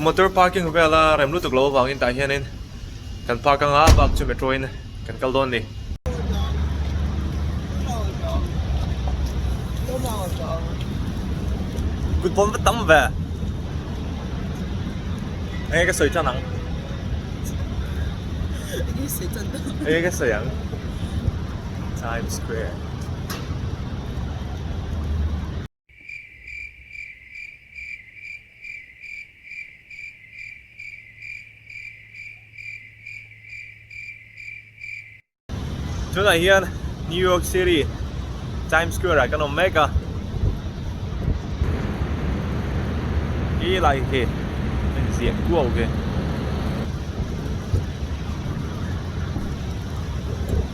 Motor parking vela rem lutuk lo avangin tah hianin kan park anga bak chu metro in kan kal dawn ani. Kut bawm vat tam ve. Enge ka sawi tan ang. Enge ka sawi ang. Times Square. tunah hian New York City Times Square ah kan awm mek a i lai khi kan ziah kuau ve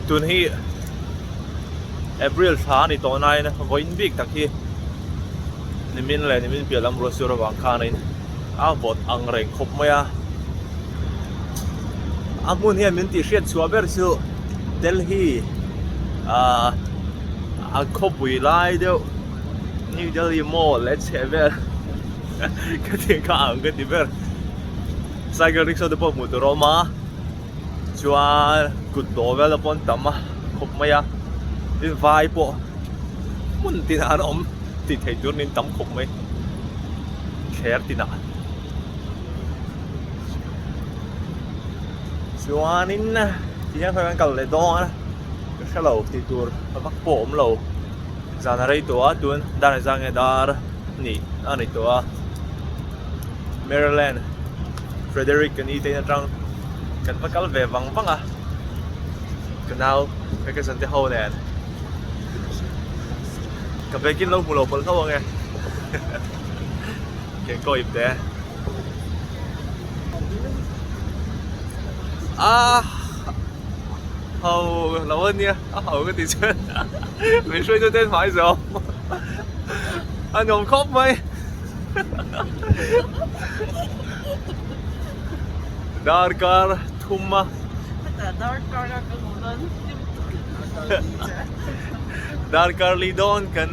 tun hi April thla a ni tawh nain vawiin bik tak hi nimin leh nimin piah lam ruah sir avang khanin a vawt ang reng khawp mai a. A hmun hian min tih hriat chhuah ber chu Delhi a khawpui lai deuh New Delhi mall leh chheh vel khatiang kha a ang ka ti ber. Cycle rickshaw te pawh hmuh tur a awm a. chuan kut dawh vel a pawn tam a khawp mai a tin vai pawh hmun tinah an awm tih theih tur niin tam khawp mai thler tinah chuanin tihian kha kan kal leh dawn a ka hre lo tih tur a vak pawh a awm lo zan a rei tawh a tun dan a zang nge dar a nih a ni tawh a. Maryland Frederick kan ni te atang kan hma kal ve vang vang a ka nau ka ka sante ho nen ka bekin lo hmu lo pol hlo ange ken ko ip te a ho lo ania a ho ka ti chen min hruai tu ten hmai zo a nawm khawp mai darkar thum a darkar a kan hmuh dawn darkar li dawn kan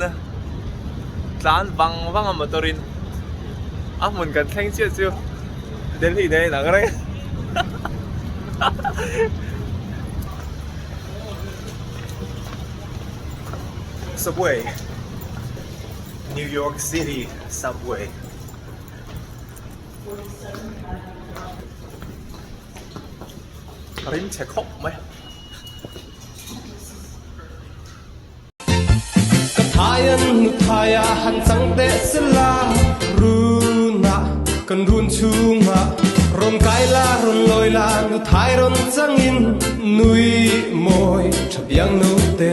tlan vang vang a motor in a hmun kan thleng chiah chu delhi nei ang reng subway New York City Subway. Rim che khawp mai. Ka thaian nu thaia han chang teh sela Runa kan run chunga Rawn kai la rawn lawi la nu thai rawn changin Nui mawi tha biang no te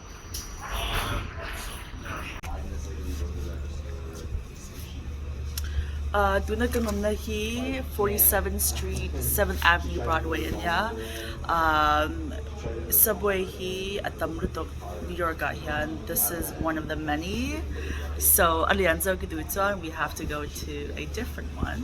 Tuna kan awmna hi forty seven street seven avenue Broadway a nia subway hi a tam lutuk New York ah hian this is one of the many so a lian zau ki duh chuan we have to go to a different one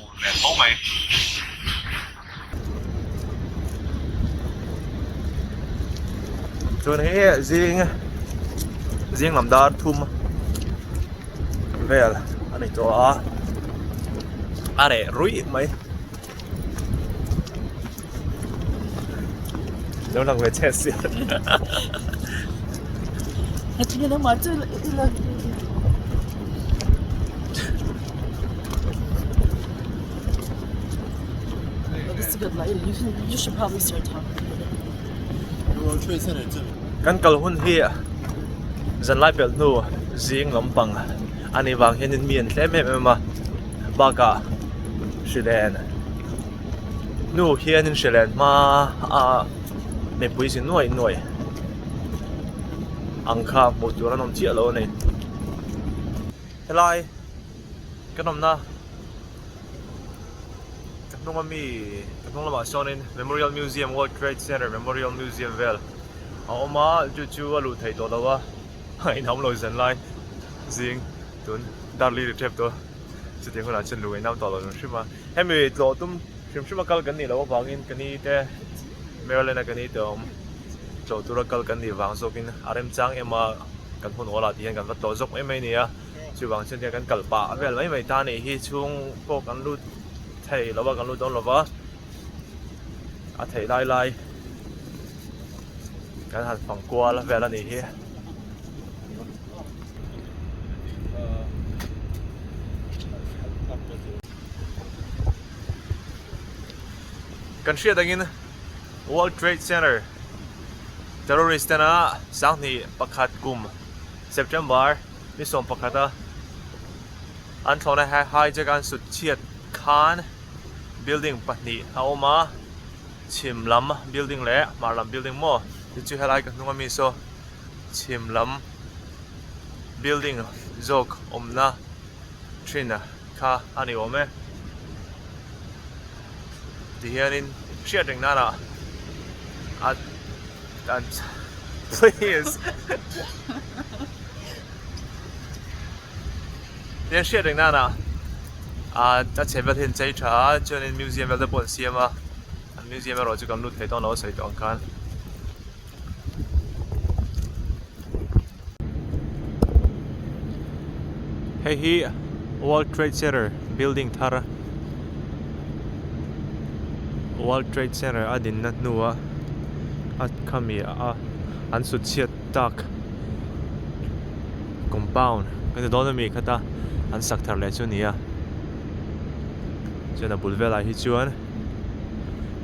Ur hmel fo mai. Chuan hi zing zing lam dar thum vel a ni tawh a a reh ruih mai. lo lang ve che si a chini lo ma chu i lo This is good, like, you, can, you should probably start talking. Kan kal hun hi dân lai bel nu zing lam pang ani vang hian in mian hle mem em a baka shilen Nu hian in hre len hma a mipui si nuai nuai ang kha hmuh tur an awm chiah lo a ni helai ka nawmna ka hnunga mi ka hnung lamah chuanin memorial museum world trade center memorial museum vel a awm a chu chu a luh theih tawh lo a a inhawm lo zan lai zing tun darlene a tap tawh a chutiang hunah chuan lu ngaihnam tawh lo reng hrim a. Hemi tlawh tum hrim hrima kal kan nih loh avangin ka ni te Maryland-a ka ni tawh tlawh tura kal kan nih vang zawkin a remchang em a, kan hun awl ah tih hian kan va tlawh zawk mai mai nia, chuvang chuan tiang kan kal pah vel mai mai ta neih hi chhung pawh kan lut thei lo va, kan lut dawn lo va, a theih lai lai kan han fang kual vel a nih hi. Kan hriat angin World Trade Center terrorist tena sanghnih pakhat kum September ni sawm pakhata an thlawhna hijack an sut chhiat khan building pahnih a awm a chhim lam building leh hmar lam building maw tichu helai ka hnunga mi saw. chhim lam building zawk awmna thin kha a ni awm e. Tihianin hriat reng nana a an please Tihian hriat reng nana a a chhe vel hi an chei tha a chuanin museum vel te pawh an siam a an museum erawh chu kan lut thei tawh ang lo a sawi tawh ang khan. hei hi world trade center building thar a world trade center a din na hnu a a khami a an sut chhiat tak compound ka ti dawn a mi kha ta an sak thar leh chu a ni a chuan a bul velah hi chuan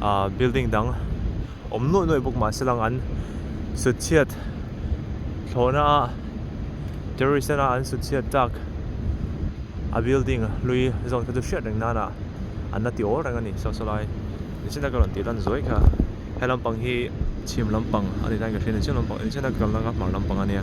ahh building dang-- awm nuai nuai bawk mahse lang an sutchhiat thlawhna a terrorist ena an sutchhiat tak a building hlui zawn kha chu hriat reng nana an la ti awl reng a ni Sawsalai inchhungte ka rawn tih dan zuai kha he lampang hi chhim lampang a ni dan ka hria inchhung lampang inchhungte ka kalna ka hmang lampang a nia.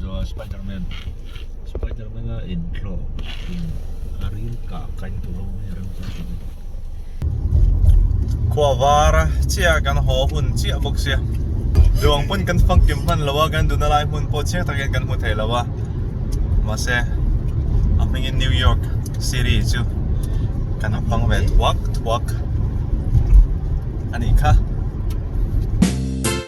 Zua Spiderman Spiderman a in thlawh in a rim kah kain tur ho mai a rim chu chu khua var a chia kan haw hun chiah bawk sia duang pawn kan fak kim hman lo a kan dun a lai hmun pawh chiang takin kan hmu thei lo a mahse a hmingin New York City chu kan a hmang ve thuak thuak a nih kha